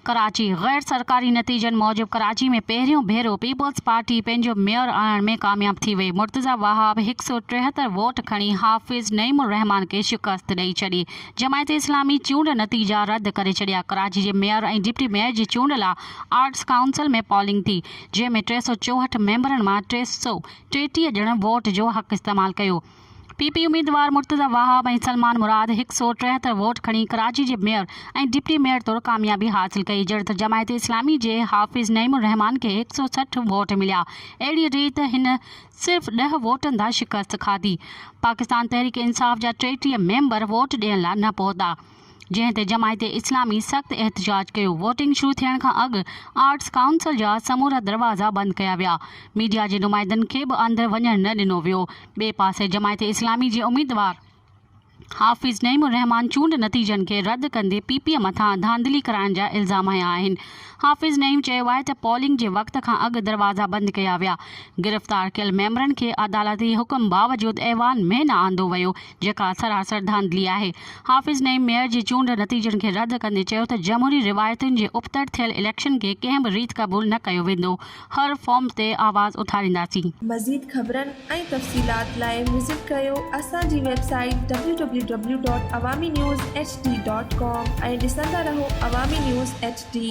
ڪراچي، غير سرڪاري نتيجن موجب ڪراچي ۾ پهريون ڀيرو پيپلز پارٽي پنهنجو ميئر آڻڻ ۾ ڪامياب ٿي وئي، مرتضيٰ وهاب هڪ سؤ ٽيهتر ووٽ کڻي حافظ نعيم الرحمان کي شڪست ڏئي ڇڏي، جماعت اسلامي چونڊ نتيجا رد ڪري ڇڏيا، ڪراچي جي ميئر ۽ ڊپٽي ميئر جي چونڊ لا آرٽس ڪائونسل ۾ پولنگ ٿي. جنهن ۾ ٽي سؤ چوهٺ ميمبرن مان ٽي سؤ ٽيٽيهه ڄڻن ووٽ جو حق استعمال ڪيو. پي پي اميدوار مرتضيٰ واهب ۽ سلمان مراد هڪ سؤ ٽيهتر ووٽ کڻي ڪراچي جي ميئر ۽ ڊپٽي ميئر طور ڪاميابي حاصل ڪئي جڏهنته جماعت اسلامي جي حافظ نعيم الرحمان کي هڪ سؤ سٺ ووٽ مليا اهڙي ريت هن صرف ڏهه ووٽن تان شڪست کاڌي پاڪستان تحريڪ انصاف جا ٽيٽيهه ميمبر ووٽ ڏيڻ لا نه پهتا. جنهن تي جماعت اسلامي سخت احتجاج ڪيو، ووٽنگ شروع ٿيڻ کان اڳ آرٽس ڪائونسل جا سمورا دروازا بند ڪيا ويا، ميڊيا جي نمائندن کي به اندر وڃڻ نه ڏنو ويو، ٻئي پاسي جماعت اسلامي جي اميدوار حافظ نعيم الرحمان چونڊ نتيجن کي رد ڪندي پي پي مٿان ڌانڌلي ڪرائڻ جا الزام هنيا آهن، حافظ نعيم چيو آهي ته پولنگ جي وقت کان اڳ دروازا بند ڪيا ويا، گرفتار ڪيل ميمبرن کي عدالتي حڪم باوجود ايوان ۾ نه آندو ويو، جيڪا اثر اثر ڌانڌلي آهي. حافظ نعيم ميئر جي چونڊ نتيجن کي رد ڪندي چيو ته جمهوري روايتن جي ابتڙ ٿيل اليڪشن کي ڪنهن به ريت قبول نه ڪيو ويندو، هر فارم تي آواز اٿارينداسين. مزيد خبرن ۽ تفصيلات لاء وزٽ ڪريو اسان جي website W W W dot Awami news H D dot com ۽ ڏسندا رهو عوامي نيوز ايڇ ڊي.